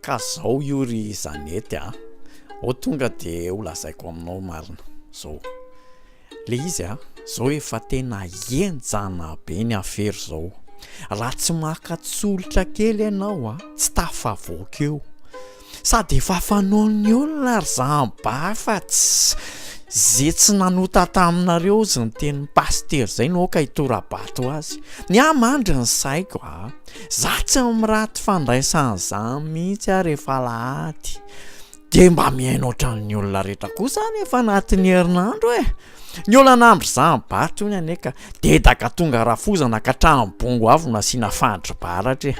Ka zao io ry Zanety a! Ao tonga de ho lazaiko aminao marina. Zao. Le izy a, zao efa tena enjana be ny afera zao. Raha tsy maka tsolotra kely enao a, tsy tafavoaka eo. Sady efa fanaon'ny olona ry zany ba fa tsy ze tsy nanota taminareo ozy ny tenin'i Pasitera zay no aoka hitorabato azy. Ny ahy mandry ny saiko a! Za tsy miraty fandraisana zany mihitsy ary efa alahady de mba mihaino ohatran'ny olona rehetra koa za rehefa anatin'ny herinandro e ny olana andro zany bato ny anie ka dedaka tonga rafozana ka trano bongo avy no asiana fandry baratra e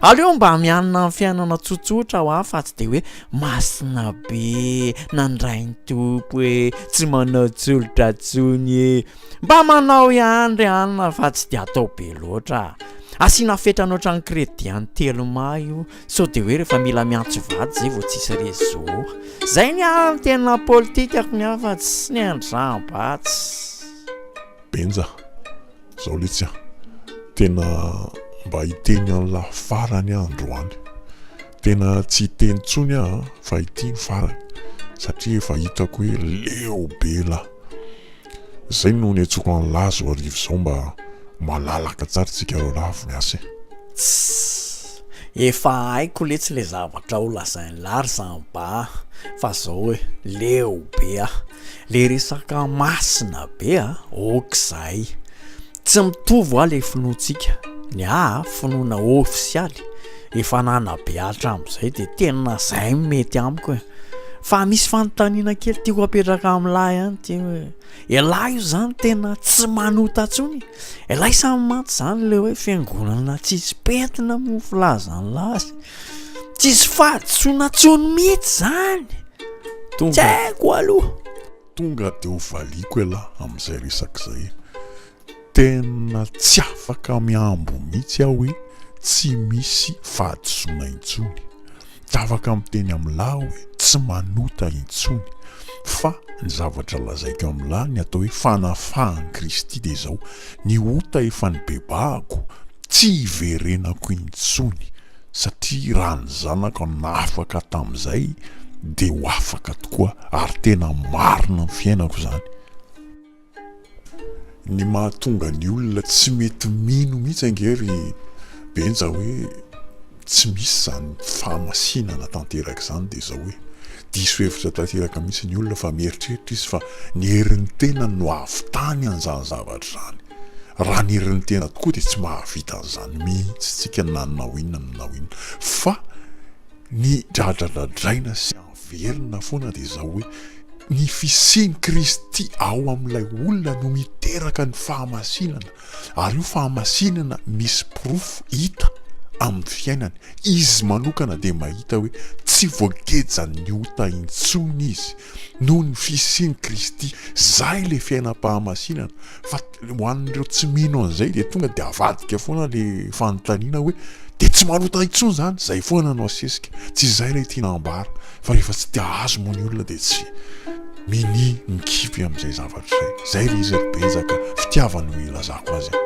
aleo mba mianina amin'ny fiainana tsotsotra ho aho fa tsy de hoe masina be nandray ny tompo e tsy manao tsolotra tsony e Mba manao ihany ry anona fa tsy dia atao be loatra. Asiana fetrany ohatran'ny crédit an'i Telma io sao dia hoe rehefa mila miantso vady izay vao tsisy réseau. Izay ny ahy ny tena politikako ny hafa tsy ny an-dRambatsy. Benja, zao letsy an! Tena mba hiteny an'i la farany aho androany. Tena tsy hiteny intsony aho fa ity ny farany satria efa hitako hoe leo be la. Zay no niantsoko an'i Lahy zao ariva zao mba malalaka tsara tsika roalahy vao miasa e. Tss! Efa haiko letsy le zavatra ho lazain'i Lahy ry Samba a! Fa zao e, leo be a! Le resaka masina be a! Ok'izay! Tsy mitovy hoa le finoantsika, ny ahy finoana ofisialy efa nanabe hatramzay de tena zay no mety amiko e! fa misy fanontaniana kely tiako apetraka amin'lah ihany ty hoe elah io zany tena tsy manota tsony? elah samy mantsy zany le hoe fiangonana tsisy pentina moa filazan'lah azy? tsisy fahadisoana tsony mitsy zany? tsy haiko aloha! Tonga de ho valiako elah amin'izay resaka izay e! Tena tsy afaka mihambo mihitsy aho hoe tsy misy fahadisoana intsony. Tsy afaka miteny amin'lah aho hoe tsy manota intsony. Fa ny zavatra lazaiko amin'lah, ny atao hoe fanafahan'i Kristy dia izao, ny ota efa nibebahako, tsy hiverenako intsony. satria raha ny zanako no nahafaka tamin'izay dia ho afaka tokoa ary tena marina ny fiainako izany. Ny mahatonga ny olona tsy mety mino mihitsy ange ry Benja hoe tsy misy izany fahamasinana tanteraka izany dia izao hoe diso hevitra tanteraka mihitsy ny olona fa mieritreritra izy fa ny herin'ny tenany no hahavitany an'izany zavatra izany. Raha ny herin'ny tena tokoa dia tsy mahavita an'izany mihitsy tsika na hanao inona na hanao inona fa ny dradradradraina sy averina foana dia izao hoe ny fisian'i Kristy ao amin'ilay olona no miteraka ny fahamasinana ary io fahamasinana misy porofo hita amin'ny fiainany, izy manokana dia mahita hoe tsy voagejan'ny ota intsony izy noho ny fisian'i Kristy, izay ilay fiainam-pahamasinana. Fa ho an'ireo tsy mino an'izay dia tonga dia avadika foana le fanontaniana hoe dia tsy manota intsony izany? Izay foana no asesika. Tsy izay ilay tiana ambara fa rehefa tsy te hahazo moa ny olona dia tsy minia mikipy amin'izay zavatra izay. Izay ilay izy ry Benja ka fitiavana no ilazako azy an.